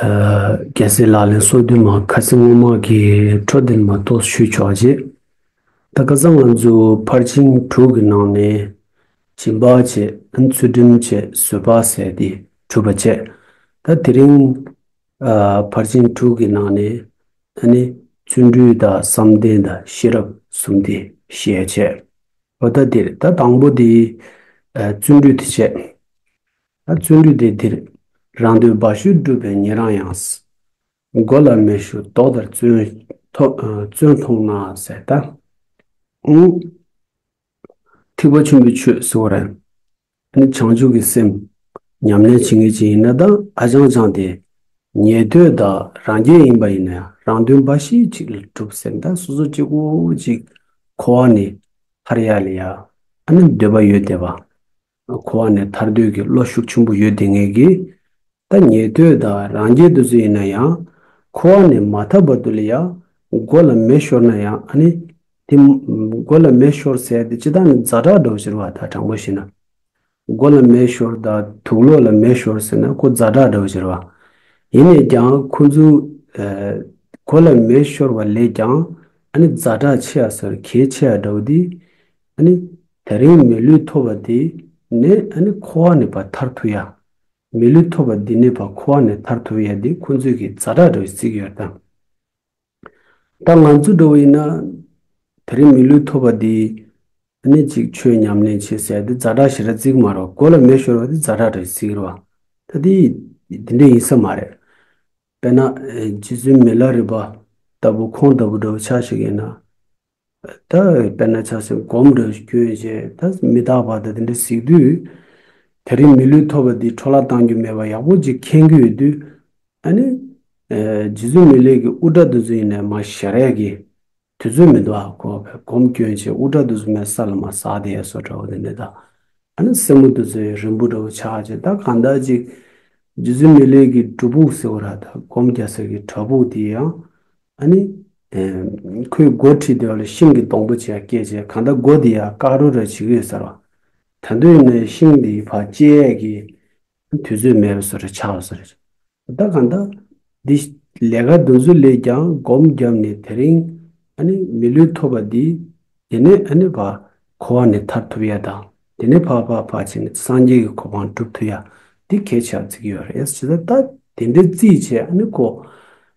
རྒྱལ་སྲས་ལགས་ལས་སོ་བདུན་མ་ཁ་ཚིག་སྔོན་མ་གི་འཕྲོ་བསྟེན་མ་གཏོགས་ཞུས་ཆོག་རྗེས། ད་སྐལ་བཟང་ང་ཚོས་ཕར་ཕྱིན་དྲུག་གི་ནང་ནས་ཞིབ་འབག་བྱས་ཚུལ་འགྲེམས་བྱས་བཟོད་པ་ཟས་དེ་གྲུབ་པ་བྱས། ད་དེ་རིང་ཕར་ཕྱིན་དྲུག་གི་ནང་ནས་ད་ནི་བརྩོན་འགྲུས་དང་བསམ་གཏན་དང་ཤེས་རབ་གསུམ་དེ་བཤད་བྱས། ལོ་ཟླ་འདིར་ད་དང་པོ་དེ་བརྩོན་འགྲུས་དེ་བྱས། བརྩོན་འགྲུས་དེ་འདིར་རང་འདོད་འབའ་ཞུ་བསྒྲུབ་པའི་ཉེ་རང་ཡང། མགོ་ལ་མེ་ཤུགས་ལྡོག་དར་བཙོན། མཐོང་ན་ཟས་རྟ་འུང། ཐིགས་པ་ཆུན་པོའི་ཆོས་བཟི་བ་རན། ནི་བྱང་ཆུབ་ཀྱི་སེམས། ཉམས་ལེན་བྱེད་ངེས་ཅི་ཡིན་ན་དང་ཨ་ཅང་ཅང་དེ། ཉེས་དོད་དག་རང་རྒྱལ་ཡིན་པ་ཡིན་ན་རང་དོན་འབའ་ཞིག་ཅིག་ལ་བསྒྲུབ་ཟེར་ན་སོ་སོ་གཅིག་པོ་ཅིག་གོ་བ་ནི། ཧར་ཡ་ལི་ཡ། ཨ་ནི་འདོད་པ་ཡོད་དེ་བ། ཁོ་བ་ནི་ཐར་འདོད་ཀྱི་བློ་ཤུགས་ཆེན་པོ་ཡོད་དེ་ངེས་ཀྱི། ཐ་སྙད་དོན་དག་རང་རྒྱལ་དུ་སུ་ཡིན་ན་ཡང། ཁོ་བ་ནི་མ་ཐར་བར་དུ་ལ་ཡང་མགོ་ལ་མེ་ཤོར་ན་ཡང་ཨ་ནི། དེ། མགོ་ལ་མེ་ཤོར་ཟེར་དེ་ཅི་ལྟར་ནི་རྫ་དྲག་སྒྲོག་བཞིར་བ་ད་དྲང་པོ་ཞིག་ན། མགོ་ལ་མེ་ཤོར་ད་དུག་ལོག་ལ་མེ་ཤོར་ཟེར་ན་ཁོ་རྫ་དྲག་སྒྲོག་བཞིར་བ། ཡིན་ནས་ཀྱང་ཁོ་ཚོའི། མགོ་ལ་མེ་ཤོར་བ་ལས་ཀྱང་ཨ་ནི་རྫ་དྲག་ཆེ་ཡ་ཟེར་གལ་ཆེ་ཡ་འདྲ་བོ་འདི། ཨ་ནི། ད་རིང་མི་ལུས་ཐོབ་པ་དེ་ནས་ཨ་ནི་ཁོ་བ་ནས་བ་ཐར་ཐུ་ཡ། མི་ལུས་ཐོབ་པ་འདི་ནས་བ་ཁོ་བ་ནས་ཐར་ཐུ་ཡ་དེ་ཁོ་ཚོས་གི་རྫ་དྲག་འདྲ་བའི་ཚིག་ཡོད་དམ། ད་ང་ཚོས་འགྲོ་བ་ཡིན་ན། ད་རིང་མི་ལུས་ཐོབ་པ་དེ་ནས་གཅིག་ཆོས་ཉམས་ལེན་བྱེད་ཟེར་དེ་རྫ་དྲག་ཞེ་དྲག་ཚིག་མ་རེད་བ་གོ་ལ་མེ་ཤོར་བ་དེ་རྫ་དྲག་འདྲ་བའི་ཚིག་རེད་བ། ད་དེ་དེ་འདྲ་ཡིན་ས་མ་རེད། དཔེར་ན། རྗེ་བཙུན་མི་ལ་རི་བ་ལྟ་བུ་ཁོང་ལྟ་བུ་འདྲ་བོ་ཆགས་ཤིག་ཡིན་ན། ད་དཔེར་ན་ཆགས་སེམས་གོམས་འགྲོས་སྐྱོན་ཅན་ད་མི་རྟག་པ་དང་དེ་འདྲ་གཟིགས་དུས། དེ་རིང་མི་ལུས་ཐོབ་པ་འདི་འཕྲོ་བརླག་བཏང་རྒྱུ་མེད་པ་ཡག་པོ་ཅིག་མཁྱེན་རྒྱུ་ཡོད་དུས། ཨ་ནི། རྗེ་བཙུན་མི་ལེགས་ཀྱི་དབུ་སྐྲ་དུ་ཟུག་ཡིན་ནས་མ་ཞེ་རེག་གི། དུས་ཚོད་མི་འདུག་ཨ་ཁོ་བས་གོམས་སྐྱོན་ཅན་དབུ་སྐྲ་དུ་ཟུག་མའི་ས་ལ་མ་ཟགས་ཏེ་ཡ་སོ་འདྲ་བོ་དེ་འདྲ་ད། ཨ་ནི་སེན་མོ་དུ་ཟོས་རིང་བུ་འདྲ་བོ་ཆགས་ཅན་ད་གང་དག་ཅིག། རྗེ་བཙུན་མི་ལེགས་ཀྱི་སྒྲུབ་ཕུག་ཟེར་བ་ར་ད་གོམས་རྒྱ་ཟེར་གི་བྲག་ཕུག་དེ་ཡང། ཨ་ནི། ཁོའི་སྒོ་ཁྲི་དེ་ལ་ཤིང་གི་སྡོང་པོ་ཆེ་བསྐྱེད་ཅེས་གང་ལྟར་སྒོ་དེ་ཡང་ཀག་རུ་ར་ཅིག་རེད་ཟེར་བ། ད་དུས་ནས་ཤིང་དེའི་བར་བཅད་ཀྱི་དུས་ཚོད་མེད་པས་སོ་རེ་ཆགས་སོ་རེ། ད་གང་ལྟར། འདི་ལས་ཀ་འདི་ཚོ་ལས་ཀྱང་སྒོམ་བརྒྱབ་ནས་དེ་རིང། ཨ་ནི། མི་ལུས་ཐོབ་པ་འདི། དེ་ནས་ཨ་ནི་བ། འཁོར་བ་ནས་ཐར་ཐུབ་ཡ་དང། དེ་ནས་འཕགས་འཕགས་འཕགས་བྱས་ནས་སངས་རྒྱས་ཀྱི་གོ་འཕང་བསྒྲུབ་ཐུབ་ཡ། འདི་གས་ཆགས་རྩིག་གི་ཡོད་རེད་ཟེར་ད། དེ་འདྲའི་རྩིས་བྱས་ཨ་ནི་ཁོ།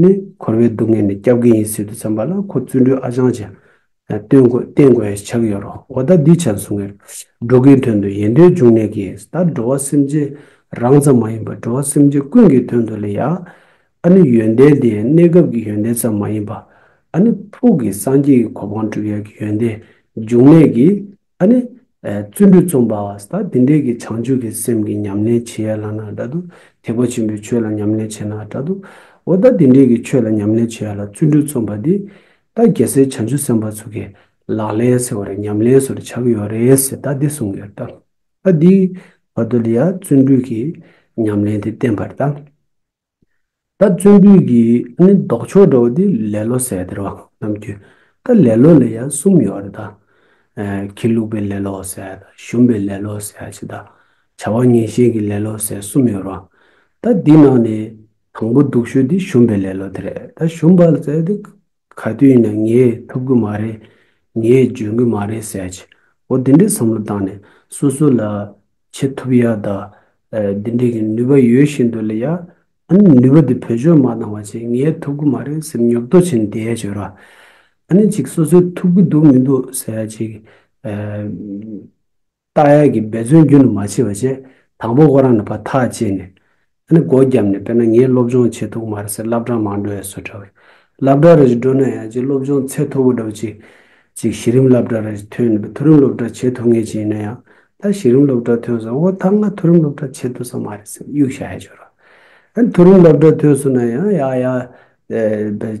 ནི་འཁོར་བའི་སྡུག་བསྔལ་ནི་སྐྱབས་ཀྱི་ཡིན་ཟེར་དུ་བརྩམས་པ་ལ་ཁོ་བཙུན་སྒྲོལ་ཨ་ཅང་བྱ། སྟོན་དགོས་བསྟེན་དགོས་ཡ་ཆགས་ཡོད་རོ་འོ་ད་འདི་བྱ་གསུང་ངེར། འགྲོ་ཀིའི་དོན་དུ་ཡེ་འདོད་འབྱུང་གནས་ཀིས་ད་འགྲོ་བ་སེམས་ཅན་རང་ཙམ་མ་ཡིན་པ་འགྲོ་བ་སེམས་ཅན་ཀུན་གྱི་དོན་དུ་ལས་ཡ། ཨ་ནི་ཡོན་ཏན་དེ་གནས་སྐབས་ཀྱི་ཡོན་ཏན་ཙམ་མ་ཡིན་པ། ཨ་ནི་ཕུགས་ཀྱི་སངས་རྒྱས་ཀྱི་གོ་འཕང་བསྒྲུབ་ཡ་གི་ཡོན་ཏན་འབྱུང་གནས་ཀིས་ད་ནི་བརྩོན་འགྲུས་རྩོམ་པ་བ་ད་འདི་འདྲས་ཀྱི་བྱང་ཆུབ་ཀྱི་སེམས་ཀྱི་ཉམས་ལེན་བྱེད་ཡ་ལ་ན་དྲ་འདུག་ཐེག་པ་ཆེན་པོའི་ཆོས་ལ་ཉམས་ལེན་བྱེད་ན་དྲ་འདུག་འོ་ད་འདི་འདྲས་ཀྱི་ཆོས་ལ་ཉམས་ལེན་བྱེད་ཡ་ལ་བརྩོན་འགྲུས་རྩོམ་པ་འདི་ད་རྒྱལ་སྲས་བྱང་ཆུབ་སེམས་དཔའ་ཚུ་གེ་ལག་ལེན་ཟེར་བ་རེ་ཉམས་ལེན་སུ་རེ་བྱ་གི་ཡོད་རེད་ཟེར་ད་འདི་གསུངས་ཡོད་ད་འདིའི་བར་དུ་ལ་ཡ་བརྩོན་འགྲུས་ཀྱི་ཉམས་ལེན་དེ་བསྟན་པར་ད། ད་བརྩོན་འགྲུས་ཀྱི་ནི་ལྡོག་ཕྱོགས་འདྲ་བོ་དེ་ལེ་ལོ་ཟེར་དེར་བ་རྣམས་ཀྱི། ད་ལེ་ལོ་ལ་ཡང་གསུམ་ཡོད་རེད་ད། ཁྱི་ལུག་པའི་ལེ་ལོ་ཟེར་དང་ཞུམ་པའི་ལེ་ལོ་ཟེར་ཞེས་དང། བྱ་བ་ངན་ཤེས་ཀྱི་ལེ་ལོ་ཟེར་གསུམ་ཡོད་རུང། ད་འདི་ནང་ནས་དང་པོ་སྡུག་ཤོས་དེ་ཞུམ་པའི་ལེ་ལོ་དེ་རེད་ད་ཞུམ་པ་ཟེར་དེ། ག་དུས་ཡིན་ན་ངས་ཐུབ་གི་མ་རེད། ངས་འཇོན་གི་མ་རེད་ཟེར་གྱི། འོ་དེ་འདྲའི་བསམ་བློ་བཏང་ནས་སོ་སོ་ལ་བྱེད་ཐུབ་ཡ་ད། དེ་འདྲའི་གི་ནུས་པ་ཡོད་བཞིན་དུ་ལ་ཡ། ཨ་ནི་ནུས་པ་དེ་བོད་ཆོས་མ་གནང་བ་ཅིག་ངས་ཐུབ་གི་མ་རེད་ཟེར་ཉོབ་ཏོ་བྱེད་འདེད་བྱོས་ར། ཨ་ནི་ཅིག་སོ་སོས་ཐུབ་གི་འདུག་མི་འདུག་ཟེར་གྱི། རྟགས་ཡག་གི་འབད་བརྩོན་རྒྱུན་དུ་མ་བྱས་པ་བཅས་དང་པོ་ཁོ་རང་ནས་བ་ཐག་བཅད་ནས། ཨ་ནི་སྒོ་བརྒྱབ་ནས་དཔེར་ན་ངས་སློབ་སྦྱོང་བྱེད་ཐུབ་མ་རེད་ཟེར་བསླབ་གྲྭ་མང་འགྲོ་ཡ་བཟོ་གྲྭ་བས་བསླབ་གྲྭ་རེ་ཞིག་འགྲོ་ན་ཡང་ཅིག་སློབ་སྦྱོང་ཚད་མཐོ་པོ་འགྲོ་བ་ཅིག་ཅིག་གཞི་རིམ་བསླབ་གྲྭ་རེ་ཞིག་ཐོན་ནུས་པ་མཐོ་རིམ་སློབ་གྲྭ་བྱེད་ཐུབ་ངེས་ཅན་ཡིན་ན་ཡང་ད་གཞི་རིམ་སློབ་གྲྭ་ཐོན་སོང་ཨོ་ད་ང་མཐོ་རིམ་སློབ་གྲྭ་བྱེད་ཐུབ་ས་མ་རེད་ཟེར་དབྱུག་ཞག་ཡ་འཇོག་རོགས། ཨ་ནི་མཐོ་རིམ་སློབ་གྲྭ་ཐོན་སོང་ན་ཡང་ཡ་ཡ།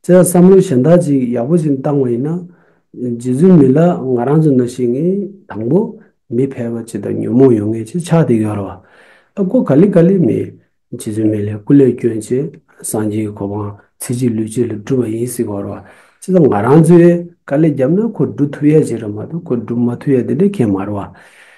བཙལ་བསམ་བློ་གཞན་དག་ཅིག་ཡག་པོ་ཞིག་བཏང་བ་ཡིན་ན། རྗེ་བཙུན་མི་ལ་ང་རང་ཚོ་འདྲ་ཞིག་ནི་དང་པོ་མི་ཕལ་པ་ཅིག་དང་ཉོན་མོངས་ཡོད་ངེས་ཅིག་ཆགས་ཏེ་ཡོད་ར་བ། ཨ་སྒོ་ག་ལི་ག་ལི་མེད། རྗེ་བཙུན་མི་ལའི་སྐུ་ལས་བསྐྱོན་ཅིག་སངས་རྒྱས་ཀྱི་གོ་འཕང་ཚེ་གཅིག་ལུས་གཅིག་ལ་བསྒྲུབ་པ་ཡིན་སྲིད་གོ་ར་བ། ཅི་ཙམ་ང་རང་ཚོས་དཀའ་ལས་བརྒྱབ་ན་ཁོ་བསྒྲུབ་ཐུབ་ཡས་ཅིག་ར་མ་གཏོགས་ཁོ་བསྒྲུབ་མ་ཐུབ་ཡས་དེ་འདྲ་མཁན་མ་ར་བ།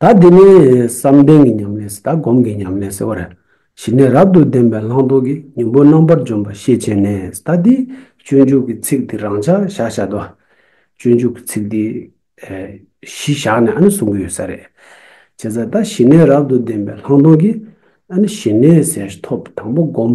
ད་འདི་ནས་བསམ་གཏན་གྱི་ཉམས་ལེན་ཟེར་ད་སྒོམ་གྱི་ཉམས་ལེན་ཟེར་བ་རེད། གཞི་ནས་རབ་ཏུ་བདེན་པའི་ལྷག་མཐོང་གི་མྱོང་པོ་རྣམ་པར་འཇོམས་པ་ཤེས་བྱས་ནས་ཟེར་ད་འདི་སྤྱོད་འཇུག་གི་ཚིག་འདི་རང་བྱ་བཞག་བྱ་ད། སྤྱོད་འཇུག་གི་ཚིག་འདི་གཞི་བཞག་ནས་ཨ་ནི་གསུང་གི་ཡོད་ས་རེད། བྱས་ཙང་ད་གཞི་ནས་རབ་ཏུ་བདེན་པའི་ལྷག་མཐོང་གི་ཨ་ནི་གཞི་ནས་ཟེར་ཐོབ་དང་པོ་སྒོམ་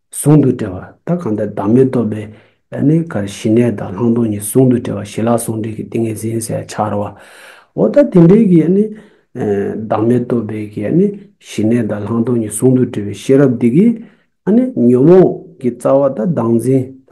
ཟུང་དུ་འབྲེལ་བ་ད་གང་དེར་བདག་མེད་རྟོགས་པའི་གནས་གར་ཞི་གནས་དང་ལྷག་མཐོང་གཉིས་ཟུང་དུ་འབྲེལ་བ་ཞི་ལྷག་ཟུང་འབྲེལ་གྱི་ཏིང་ངེ་འཛིན་གསལ་འཆར་བ། འོ་ད་དེ་འདྲའི་གི་བདག་མེད་རྟོགས་པའི་གི་ཞི་གནས་དང་ལྷག་མཐོང་གཉིས་ཟུང་དུ་འབྲེལ་བའི་ཤེས་རབ་འདི་གིས་ཉོན་མོངས་ཀྱི་རྩ་བ་ད་བདག་འཛིན་ད་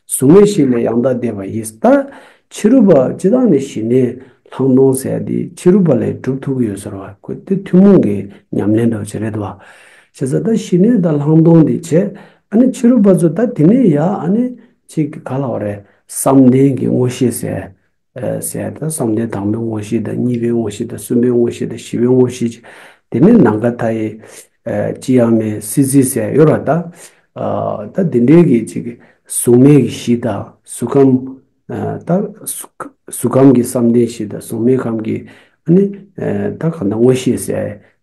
གཟུགས་མེད་ཞིག་ལས་ཡང་དག་བདེ་བ་ཡིན་ཟེར་ད། ཕྱི་རུ་བ་སྤྱི་དང་ནི་ཞི་གནས་ལྷག་མཐོང་ཟེར་ཡ་དེ་ཕྱི་རུ་བ་ལས་གྲུབ་ཐུག་གི་ཡོད་ཟེར་བ་ཁོ་དེ་ཐུན་མོང་གི་ཉམས་ལེན་འདྲ་བ་ཞིག་རེད་བ། བྱས་ཙང་ད་ཞི་གནས་དང་ལྷག་མཐོང་འདི་བྱས་ཨ་ནི་ཕྱི་རུ་བ་ཚོས་ད་དེ་ནས་ཡ་ཨ་ནི་ཅིག་ག་ལ་བ་རེད་བསམ་གཏན་གྱི་ངོ་ཤེས་ཟེར་གསལ་དང་བསམ་གཏན་དང་པོའི་དངོས་གཞི་དང་གཉིས་པའི་དངོས་གཞི་དང་གསུམ་པའི་དངོས་གཞི་དང་བཞི་པའི་དངོས་གཞི། དེ་ནས་ནམ་མཁའ་མཐའ་ཡས། ཅི་ཡང་མེད་སྲིད་རྩེའི་གསལ་གཡོ་ར་དང། ད་འདི་འདྲའི་གི་ཅིག། གཟུགས་མེད་ཀྱི་གཞི་དང་གཟུགས་ཁམས། ད། གཟུགས་ཁམས་ཀྱི་བསམ་གཏན་གཞི་དང་གཟུགས་མེད་ཁམས་ཀྱི། ཨ་ནི། ད་གང་དག་དངོས་གཞིའི་གསལ།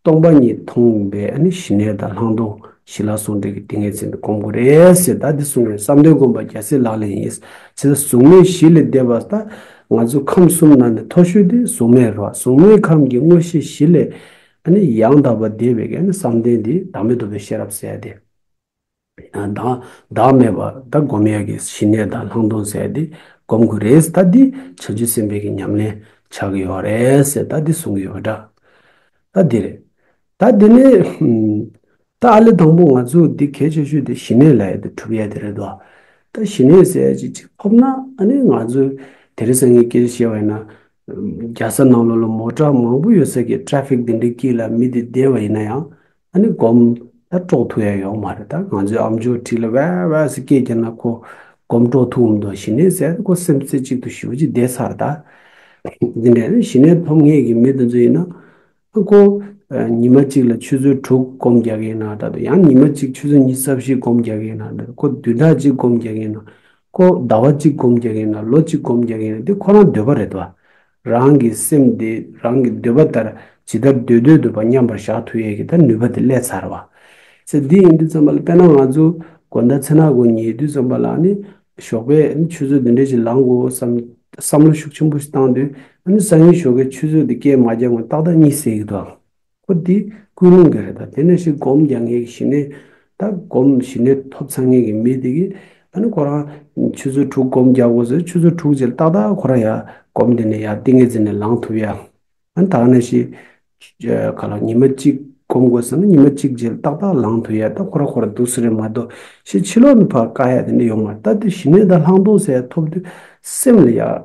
སྟོང་པ་ཉིད་མཐོང་བས་ནི་ཞི་གནས་དང་ལྷག་མཐོང་ཞི་ལ་སོགས་འབྲས་ཀྱི་ཏིང་ངེ་འཛིན་དུ་བསྒོམ་དགོས་རེད་ཟེར་ད་འདི་གསུངས་རེད་བསམ་དོན་སྒོམ་པ་རྒྱ་ཚད་ལག་ལེན་ཡིན། ཚེ་ད་གཟུགས་མེད་བཞི་ལས་འདས་པ་ད་ང་ཚོ་ཁམས་གསུམ་ན་ནས་མཐོ་ཤོས་དེ་གཟུགས་མེད་རོ་གཟུགས་མེད་ཁམས་ཀྱི་མངོན་ཤེས་བཞི་ལས། ཡང་དག་པ་བདེ་བའི་བསམ་གཏན་དེ་བདག་མེད་རྡོ་བའི་ཤེས་རབ་གསལ་ཏེ། བདག་མེད་པ་ད་བསྒོམ་ཡས་ཀྱི་ཞི་གནས་དང་ལྷག་མཐོང་བསལ་ཏེ་བསྒོམ་དགོས་རེད་ད་འདི་བྱང་ཆུབ་སེམས་དཔའི་གྱི་ཉམས་ལེན་བྱ་གི་ཡོད་རེད་ད་འདི་གསུང་གི་ཡོད་འདྲ་ད་འདི་རེད། ད་འདི་ནི་ད་ཨ་ལི་དང་པོ་ང་ཚོས་འདི་གལ་ཆེ་ཤོས་འདི་ཞི་གནས་ལ་ཡོད་དེ་གྲུབ་ཡས་དེ་རེད་དོ། ད་ཞི་གནས་གསལ་ཅིག་ཅིག་ཕོབ་ན་ཨ་ནི་ང་ཚོས་དེ་རི་སངས་ཀྱི་སྐད་ཆ་བཤད་པ་ཡིན་ན། རྒྱ་ས་ནང་ལོ་ལོ་མོ་གྲངས་མང་པོ་ཡོད་ས་ཀྱི Traffic འདི་འདྲའི་དཀྱིལ་ལ་མི་འདི་བསྡད་པ་ཡིན་ན་ཡང་ཨ་ནི་སྒོམ། ད་སྤྲོ་ཐུག་ཡ་ཡོག་མ་རེད་ད་ང་ཚོའི་ཨ་མཆོག་ཁྲི་ལ་བས་བས་སུ་སྐད་རྒྱག་ན་ཁོ་སྒོམ་སྤྲོ་ཐུག་འམ་དང་ཞི་གནས་ཟེར་ཁོ་སེམས་རྩེ་གཅིག་ཏུ་ཞུ་གཅིག་བསྡད་ཚར་ད། འདི་འདྲས་ཞི་གནས་ཐོབ་ངེས་ཀྱི་མི་དེ་ཚོ་ཡིན་ན། ཨ་ཁོ། ཉི་མ་གཅིག་ལ་ཆུ་ཚོད་དྲུག་སྒོམ་རྒྱག་གི་ཡིན་ན་ད་དུ་ཡང་ཉི་མ་གཅིག་ཆུ་ཚོད་གཉིས་རྩ་བཞི་སྒོམ་རྒྱག་གི་ཡིན་ན་འདི་ཁོ་དུས་ད་གཅིག་སྒོམ་རྒྱག་གི་ཡིན་ན། ཁོ་ཟླ་བ་གཅིག་སྒོམ་རྒྱག་གི་ཡིན་ན་ལོ་གཅིག་སྒོམ་རྒྱག་གི་ཡིན་ན་འདི་ཁོ་རང་འདོད་པ་རེད་དོ། རང་གི་སེམས་དེ་རང་གི་འདོད་པ་ལྟར་ཇི་ལྟར་སྡོད་སྡོད་སྡོད་པ་མཉམ་པར་བཞག་ཐུ་ཡས་ཀྱི་ད་ནུས་པ་དེ་སླད་ཚར་བ། ཚེ་འདི་ཡིན་དུས་ཙམ་པ་ལ་དཔེར་ན་ང་ཚོ་དགོན་ཟླ་ཚེ་ན་དགོན་ཉེ་དུས་ཙམ་པ་ལ་ནི་ཞོགས་པའི་ཆུ་ཚོད་བདུན་འགྲིལ་ཅིག་ལངས་དགོས་བསམ་བསམ་བློ་ཤུགས་ཆེན་པོ་ཞིག་བཏང་དུས་ཨ་ནུ་སང་ཉིན་ཞོགས་ཀའི་ཆུ་ཚོད་དེ་སྐྱེལ་མ་རྒྱག་ངོ་ཏག་ཏག་གཉིད་སད་ཀྱི་འདུག་ཨང། ཁོ་འདི་ཀུན་སློང་གི་རེད་ད་དེ་ནས་ཤིག་སྒོམ་རྒྱག་ངེས་ཀྱི་ཞི་གནས་ད་སྒོམ་ཞི་གནས་ཐོབ་ཚར་ངེས་ཀྱི་མི་འདི་གི་ད་ནི་ཁོ་རང་ཆུ་ཚོད་དྲུག་སྒོམ་རྒྱག་དགོས་ཟེར་ཆུ་ཚོད་དྲུག་རྗེས་ཏག་ཏག་ཁོ་རང་ཡར་སྒོམ་དེ་ནས་ཡར་ཏིང་ངེ་འཛིན་ནས་ལངས་ཐུབ་ཡ། ད་ནི་ད་ནས་ཤིག་ག་ལ་ཉི་མ་གཅིག་སྒོམ་དགོས་ཟེར་ན་ཉི་མ་གཅིག་རྗེས་ཏག་ཏག་ལངས་ཐུབ་ཡ་ད་ཁོ་རང་ཁོ་རང་འདུག་ས་རེད་མ་གཏོགས་ཤིག་ཕྱི་ལོག་ནས་བར་དཀའ་ཡ་དེ་འདྲ་ཡོང་མ་རེད་ད་དེ་ཞི་གནས་ད་ལྷག་མཐོང་ཟེར་ཡ་ཐོབ་དུས་སེམས་ལ་ཡག།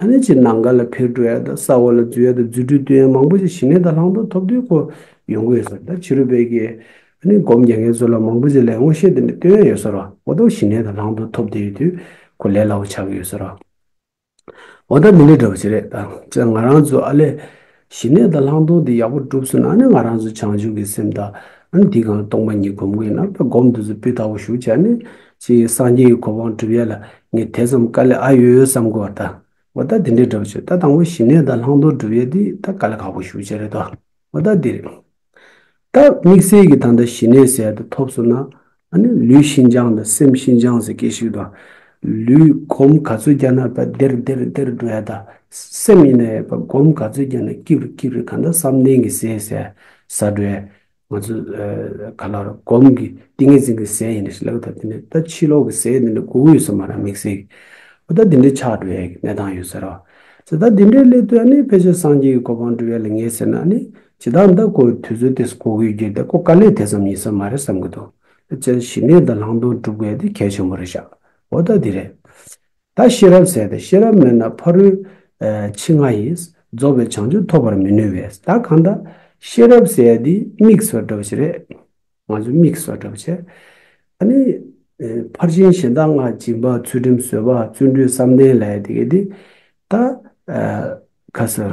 ཨ་ནེ་ཆི་ནང་ག་ལ་ཕེབས་འགྲོ་ཡ་དང་ས་འོག་ལ་འཛུལ་ཡ་དང་རྫུ་འཕྲུལ་སྟོན་ཡ་མང་པོ་ཞིག་ཞི་གནས་དང་ལྷག་འདོགས་ཐོབ་དུས་ཁོ་ཡོང་གི་ཡོད་ཟེར་ད་ཕྱི་རུ་བེད་ཀྱི་ཨ་ནེ་སྒོམ་རྒྱལ་མཁན་ཚོ་ལ་མང་པོ་ཞིག་ལས་ངོ་ཤེས་དེ་འདྲ་སྟོན་ཡ་ཡོད་ཟེར་རོ་འོ་དོགས་ཞི་གནས་དང་ལྷག་འདོགས་ཐོབ་བསྡད་ཡོད་དུས་ཁོ་ལས་སླ་བོ་ཆགས་ཀྱི་ཡོད་ཟེར་རོ། འོ་ད་མི་ལས་འདྲ་བ་ཅི་རེད་ད་ང་རང་ཚོ་ཨ་ལས་ཞི་གནས་དང་ལྷག་མཐོང་དེ་ཡག་པོ་བསྒྲུབས་ཟིན་ན་ནི་ང་རང་ཚོ་བྱང་ཆུབ་ཀྱི་སེམས་དང། འདི་གའང་སྟོང་པ་ཉིད་སྒོམ་གྱི་ཡིན་ན་དཔལ་སྒོམ་དུས་སུ་སྤུས་དག་པོ་ཞུགས་བྱས་ནས་ཅི་ཡིན་སངས་རྒྱས་ཀྱི་གོ་འཕང་བསྒྲུབ་ཡས་ལ་ངས་དེ་ཙམ་དཀའ་ལས་ཨ་ཡོད་ཡོད་བསམ་དགོས་བ་ད། འོ་ད་དེ་འདྲའི་སྒྲུབ་བྱེད་ད་དང་པོ་ཞི་གནས་དང་ལྷག་མཐོང་བསྒྲུབ་ཡས་འདི་ད་དཀའ་ལས་ཁག་པོ་ཞུགས་བྱས་རེད་དོ་འོ་ད་འདིར། ད་དམིགས་བསལ་གྱི་ད་ལྟ་ཞི་གནས་གསལ་དུ་ཐོབ་སོང་ན། ནི་ལུས་ཤིན་སྦྱངས་དང་སེམས་ཤིན་སྦྱངས་ཟེར་གྱི་ཞིག་དང། ལུས་སྒོམ་ག་ཚོད་བརྒྱ་ན་བ་དེར་དེར་དེར་འགྲོ་ཡ་དང། སེམས་ཡིན་ན་ཡང་བ་སྒོམ་ག་ཚོད་བརྒྱ་ན་སྐྱིད་རུ་སྐྱིད་རུ་ད་ལྟ་བསམ་གཏན་གྱི་ཟས་ཟས་ཟ་འགྲོ་ཡ། ང་ཚོ་ག་ལ་རུང་སྒོམ་གྱི་ཏིང་ངེ་འཛིན་གྱི་ཟས་ཡིན་ན་ཞིག་ལབ་ད་དེ་ནས་ད་ཕྱི་ལོག་གི་ཟས་འདི་འདྲ་དགོས་ཀྱི་ཡོད་ས་མ་རང་དམིགས་བསལ་གྱི། ད་དེ་འདྲ་ཆགས་འགྲོ་ཡ་གི་གནས་སྟངས་ཡོད་ཟེར་རོ། ད་དེ་འདྲའི་སླད་དུ་ནི་ཕལ་ཆེར་སངས་རྒྱས་ཀྱི་གོ་འཕང་འགྲུབ་ཡ་ལ་ངེས་ཟེར་ན་ནི་ཇི་ལྟར་འདི་ཀོ་བའི་དུས་ཚོད་དེས་གོ་གི་རྒྱུ་དེ་ཀོ་དཀའ་ལས་དེ་ཙམ་ཡིན་ས་མ་རེད་བསམ་གི་འདུག་དེ་བཅས་ཞི་གནས་དང་ལྷག་མཐོང་སྒྲུབ་དགོས་དེ་གལ་ཆེན་པོ་རེད་ཤག་འོ་ད་འདི་རེད། ད་ཤེས་རབ་ཟེར་ཏེ་ཤེས་རབ་མེད་ན་ཕ་རུའི། ཕྱི་ང་ཡིན། རྫོགས་པའི་བྱང་ཆུབ་ཐོབ་པར་མི་ནུས་བས་ད་གང་ལྟ། ཤེས་རབ་ཟེར་ཡ་འདི་དམིགས་སུ་འགྲོ་བ་ཞིག་རེད། ང་ཚོས་དམིགས་སུ་འགྲོ་བ་ཆེ། ད་ནི། ཕར་ཕྱིན་གཞན་དག་སྔར་སྦྱིན་པ་ཚུལ་ཁྲིམས་བཟོད་པ་བརྩོན་འགྲུས་བསམ་གཏན་ལས་དེ་གས་དེ། ད། ཁ་སང།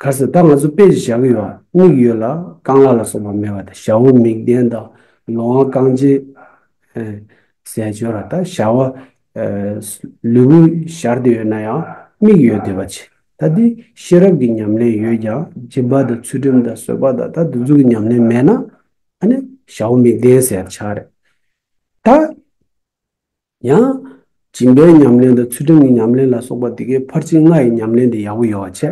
ག་སྲིད་ད་ང་ཚོ་དཔེ་ཞིག་བཞག་གི་ཡོད་ཨ་མིག་ཡོད་ལ་རྐང་ལག་ལ་སོགས་པ་མེད་པ་དང་ཞྭ་བོ་མིག་ལྡན་དང་ལོ་ཝང་རྐང་རྗེས་ཟས་སྤྱོད་ར་ད་ཞྭ་བ་ལུས་པོ་ཞར་དུ་ཡོད་ན་ཡང་མིག་ཡོད་བསྡད་པ་ཆེ་ད་དེ་ཤེས་རབ་ཀྱི་ཉམས་ལེན་ཡོད་ཀྱང་སྦྱིན་པ་དང་ཚུལ་ཁྲིམས་དང་བཟོད་པ་དང་ད་དེ་ཚོ་གི་ཉམས་ལེན་མེད་ན་ཨ་ནི་ཞྭ་བོ་མིག་ལྡན་ཟེར་ཆགས་རེད་ད། ཡང། སྦྱིན་པའི་ཉམས་ལེན་དང་ཚུལ་ཁྲིམས་ཀྱི་ཉམས་ལེན་ལ་སོགས་པ་འདི་གའི་ཕར་ཕྱིན་ལྔ་ཡི་ཉམས་ལེན་དེ་ཡག་པོ་ཡོད་བ་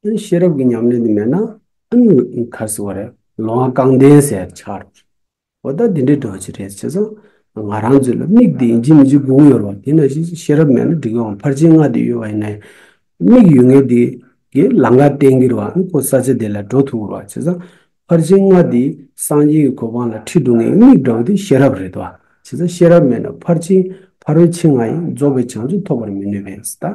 བྱས། ཤེས་རབ་ཀྱི་ཉམས་ལེན་དེ་མེད་ན། གར་སི་བ་རེད། ལོ་ང་རྐང་བདེན་ཟེར་ཆགས། འོ་ད་འདི་འདྲའི་འགྲོ་བ་ཅི་རེད་བྱས་ཙང། ང་རང་ཚོའི་ལ་མིག་དེ་ཡིན་གྱི་མི་འཇིག་དགུང་ཡོར་བ་དེ་ན་ཤེས་ཤེས་རབ་མེད་ན་འགྲིག་ཡོང་ཕར་ཕྱིན་ལྔ་དེ་ཡོད་བ་ཡིན་ན། མིག་ཡོད་ངེས་དེ་གའི་ལང་ཀ་བསྟན་གྱིར་བ་ཨང་ཁོ་ས་ཆ་དེ་ལ་འགྲོ་ཐུབ་བོར་བ་བྱས་ཙང། ཕར་ཕྱིན་ལྔ་འདི་སངས་རྒྱས་ཀྱི་གོ་འཕང་ལ་ཁྲིད་སྡུག་བསྔལ་མིག་འདྲ་བོ་འདི་ཤེས་རབ་རེད་དོ། བྱས་ཙང་ཤེས་རབ་མེད་ན་ཕར་ཕྱིན་ཕ་རོལ་ཕྱིན་ལྔ་ཡིས་རྫོགས་པའི་བྱང་ཆུབ་ཐོབ་པར་མི་ནུས་པས་ད།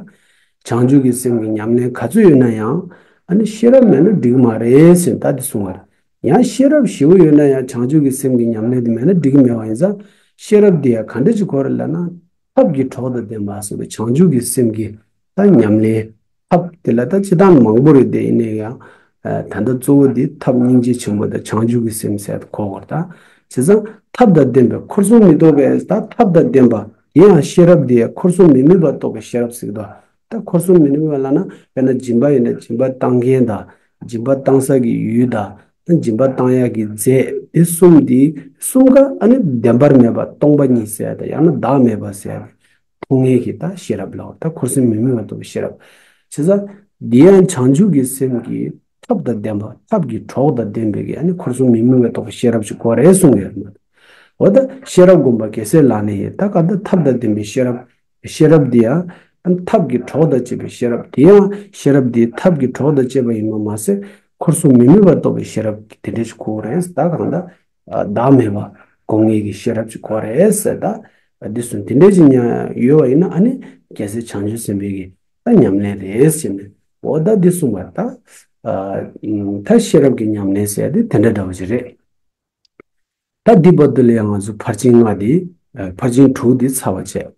བྱང་ཆུབ་ཀྱི་སེམས་ཀྱི་ཉམས་ལེན་ག་ཚོད་ཡོད་ན་ཡང། ཨ་ནི་ཤེས་རབ་མེད་ན་འགྲིག་གི་མ་རེད་ཟེར་ནས་ད་འདི་གསུངས་བ་རེད། ཡང་ཤེས་རབ་བཞི་བོ་ཡོད་ན་ཡང་བྱང་ཆུབ་ཀྱི་སེམས་ཀྱི་ཉམས་ལེན་དེ་མེད་ན་འགྲིག་གི་མེད་བ་ཡིན་ཙང། ཤེས་རབ་འདི་ཡང་ག་འདྲ་ཅིག་གོ་རེད་ལབ་ན། ཐབས་ཀྱི་གྲོགས་དང་ལྡན་པ་སོགས་པའི་བྱང་ཆུབ་ཀྱི་སེམས་ཀྱི། ད་ཉམས་ལེན་ཐབས་དེ་ལ་ད་ཅི་ཐང་མང་པོ་རེད་དེ་ཡིན་ན་ཡང་ད་ལྟ་གཙོ་བོ་དེ་ཐབས་སྙིང་རྗེ་ཆེན་པོ་དང་བྱང་ཆུབ་ཀྱི་སེམས་ཟད་འཁོར་བར་དག་བྱས་ཙང་ཐབས་དང་ལྡན་པའི་འཁོར་སོང་མི་རྟོག་པས་ད་ཐབས་དང་ལྡན་པ་དེ་ཡང་ཤེས་རབ་དེ་ཡང་འཁོར་སོང་མི་ནུས་པ་རྟོགས་པའི་ཤེས་རབ་ཟེར་གདའོ། ད་འཁོར་སོང་མི་ནུས་པ་ལ་ན་དཔེར་ན་སྦྱིན་པ་ཡིན་ན་སྦྱིན་པ་བཏང་མཁན་དང་སྦྱིན་པ་བཏང་ས་ཀྱི་ཡུལ་དང་ད་སྦྱིན་པ་བཏང་ཡག་གི་རྫས་དེ་གསུམ་དེ་གསུམ་ཀ་ཨ་ནི་བདེན་པར་མེད་པ་སྟོང་པ་ཉིད་ཟད་དང་ཡང་ན་བདག་མེད་པ་ཟད། ཕུང་ངེས་ཀྱི་ལྟ་ཤེས་རབ་ལའོ་ད་འཁོར་སེམས་མི་དམིགས་པ་འདུ་བའི་ཤེས་རབ། བྱས་ཙང། འདི་ཡང་བྱང་ཆུབ་ཀྱི་སེམས་ཀྱི་ཐབས་དང་ལྡན་པ་ཐབས་ཀྱི་གྲོགས་དང་ལྡན་པའི་གེགས་ནི་འཁོར་གསུམ་མི་དམིགས་པ་རྟོགས་པའི་ཤེས་རབ་ཀྱི་སྒོ་རེད་གསུངས་ཡོད་མོད། འོ་ད་ཤེས་རབ་སྒོམ་པ་གེགས་སེལ་ལ་ནི་ད་ག་ད་ཐབས་དང་ལྡན་པའི་ཤེས་རབ། ཤེས་རབ་འདི་ཡང། ཐབས་ཀྱི་གྲོགས་དང་བཅས་པའི་ཤེས་རབ་དེ་ཡང་ཤེས་རབ་འདི་ཐབས་ཀྱི་གྲོགས་དང་བཅས་པ་ཡིན་པར་མ་ཟད། འཁོར་གསུམ་མི་དམིགས་པ་རྟོགས་པའི་ཤེས་རབ་ཀྱི་དེ་འདྲའི་ཆུ་ཁོག་རེད་ད་གང་ལྟར། བདག་མེད་པ་དགོངས་ངེས་ཀྱི་ཤེས་རབ་ཀྱི་གོ་རེད་ཟེར་ད། འདི་གསུམ་དེ་འདྲའི་ཅི་ཉག་ཡོད་བ་ཡིན་ན་ཨ་ནི་རྒྱལ་སྲས་བྱང་ཆུབ་སེམས་དཔའི་གི་ད་ཉམས་ལེན་རེད་ཟེར་ནས་འོ་ད་འདི་གསུངས་པར་ད། ད་ཤེས་རབ་ཀྱི་ཉམས་ལེན་ཟེར་ཏེ་དེ་འདྲ་འདྲ་བ་ཅིག་རེད། ད་འདི་བར་དུ་ལའང་ང་ཚོ་ཕར་ཕྱིན་ལྔ་འདི་ཕར་ཕྱིན་དྲུག་འདི་ཚར་བར་བྱས།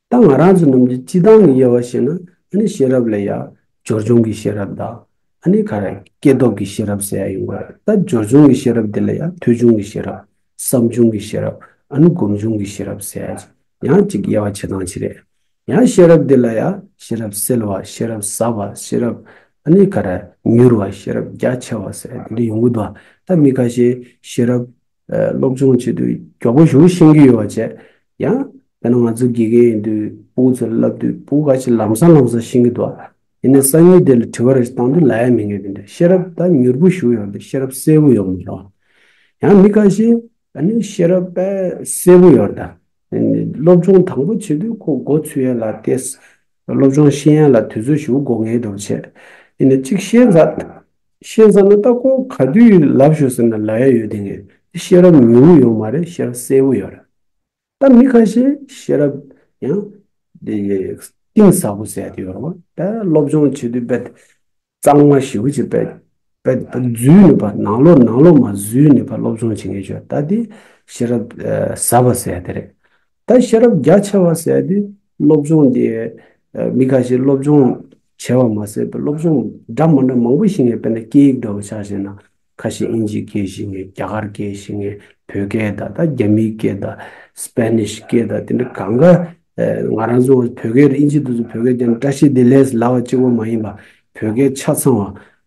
ད་ང་རང་ཚོ་རྣམས་ཀྱི་སྤྱི་བཏང་གི་དབྱེ་བ་ཤེས་ན་ཨ་ནི་ཤེས་རབ་ལ་ཡང་སྦྱོར་བྱུང་གི་ཤེས་རབ་དང་ཨ་ནི་ག་རེ་སྐྱེས་སྟོབས་ཀྱི་ཤེས་རབ་ཟེར་ཡ་ཡིན་དགོས་ད་སྦྱོར་བྱུང་གི་ཤེས་རབ་དེ་ལ་ཡང་ཐོས་བྱུང་གི་ཤེས་རབ་བསམ་བྱུང་གི་ཤེས་རབ་ཨ་ནི་སྒོམ་བྱུང་གི་ཤེས་རབ་ཟེར་ཡ་ཡང་གཅིག་དབྱེ་བ་ཕྱེ་སྟངས་གཅིག་རེད། ཡང་ཤེས་རབ་དེ་ལ་ཡང་ཤེས་རབ་གསལ་བ་ཤེས་རབ་ཟབ་པ་ཤེས་རབ་ཨ་ནི་ག་རེ་མྱུར་བ་ཤེས་རབ་རྒྱ་ཆེ་བ་ཟེར་ཡ་དེ་འདྲ་ཡོང་གི་འདུག་ད་མི་ཁ་ཤས་ཤེས་རབ། སློབ་སྦྱོང་བྱེད་དུས་མགྱོགས་པོ་ཞུགས་ཤེས་ཀྱི་ཡོད་བ་བྱས། ཡང། དཔེར་ན་ང་ཚོ་དགེ་རྒན་ཡིན་དུས་སྤུ་གུ་ཚོར་བསླབ་དུས་སྤུ་གུ་ག་ཅིག་ལམ་སང་ལམ་སང་ཤིང་གི་འདུག་ཨ། ཡིན་ནའི་སང་ཉིན་དེ་ལ་དྲི་བ་རེ་ཞིག་བཏང་དུས་ལ་ཡ་མི་ངེས་ཀྱི་འདུག་ཤེས་རབ་ད་མྱུར་པོ་ཞུགས་ཡོང་དུས་ཤེས་རབ་གསལ་བོ་ཡོང་མི་རུང། ཡང་མི་ག་ཞིག་ཨ་ནི་ཤེས་རབ་དཔལ་གསལ་བོ་ཡོད། སློབ་སྦྱོང་དང་པོ་བྱེད་དུས་ཁོ་མགོ་ཚུད་ཡས་ལ་བལྟས། སློབ་སྦྱོང་ཤེས་ཡས་ལ་དུས་ཚོད་ཞུགས་མགོ་ངེས་འདུག་བྱས། ཡིན་ནའི་གཅིག་ཤེས་ཚར། ཤེས་ཚར་ན་ལྟ་གོ་ག་དུས་ལབ་ཞོག་ཟེར་ན་ལ་ཡ་ཡོད་དེ་ངས་དེ་ཤེས་རབ་ཉུང་ངུ་ཡོད་མ་རེད་ཤེས་རབ་གསལ་བོ་ཡོད་རེད་ད་མི་ཁ་ཤས་ཤེས་རབ་ཡང་དེ་གཏིང་ཟབ་པོ་ཟད་དེ་ཡོད་རེད་བ་ད་སློབ་སྦྱོང་བྱེད་དུས་དཔེ་གཙང་མ་ཞིག་བུ་ཅིག་དཔེ་བརྫུས་ནས་བ་ནང་ལོག་ནང་ལོག་མ་བཟོས་ནས་བ་སློབ་སྦྱོང་བྱེད་ངེས་ཆོད་ད་དེ་ཤེས་རབ་ཟབ་པ་ཟད་དེ་རེད་ད་ཤེས་རབ་རྒྱ་ཆེ་བ་ཟེར་དུས་སློབ་སྦྱོང་དེ་མི་ཁ་ཤས་སློབ་སྦྱོང་བྱས་བ་མ་ཟད་པའི་སློབ་སྦྱོང་འདྲ་མ་འདྲ་མང་པོ་ཞིག་ངས་དཔེར་ན་སྐད་ཡིག་འདྲ་བོ་ཆགས་བྱས་ན་ཁ་ཤས་ཨིན་ཇིའི་སྐད་ཤེས་ངེས་རྒྱ་གར་སྐད་ཤེས་ངེས་བོད་སྐད་དང་ད་རྒྱ་མིའི་སྐད་དང Spanish སྐད་དང་དེ་འདྲ་གང་གཱ་ང་རང་ཚོ་བོད་སྐད་དང་ཨིན་ཇི་དུ་ཚོ་བོད་སྐད་རྒྱ་ནི་བཀྲ་ཤིས་བདེ་ལེགས་ལས་སླ་བ་གཅིག་པོ་མ་ཡིན་པ་བོད་སྐད་ཆ་ཚང་བ།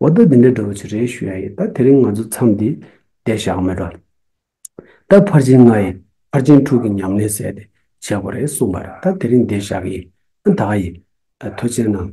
འོ་ད་འདི་འདྲའི་འདྲ་བོ་ཆེ་རེ་ཞུ་ཡ་ཡིན་ད་དེ་རིང་ང་ཚོ་མཚམས་འདི་བསྡད་བཞག་མི་འགྲོ། ད་ཕར་ཕྱིན་ང་ཡིས་ཕར་ཕྱིན་ཕྲུག་གི་ཉམས་ལེན་བསད་དེ་བྱེད་དགོས་རེད་གསུངས་པར་ད་དེ་རིང་བསྡད་བཞག་གི་ཡིན་ད་ག་ཡིན། ད་ཐོས་ཆེན་གནང།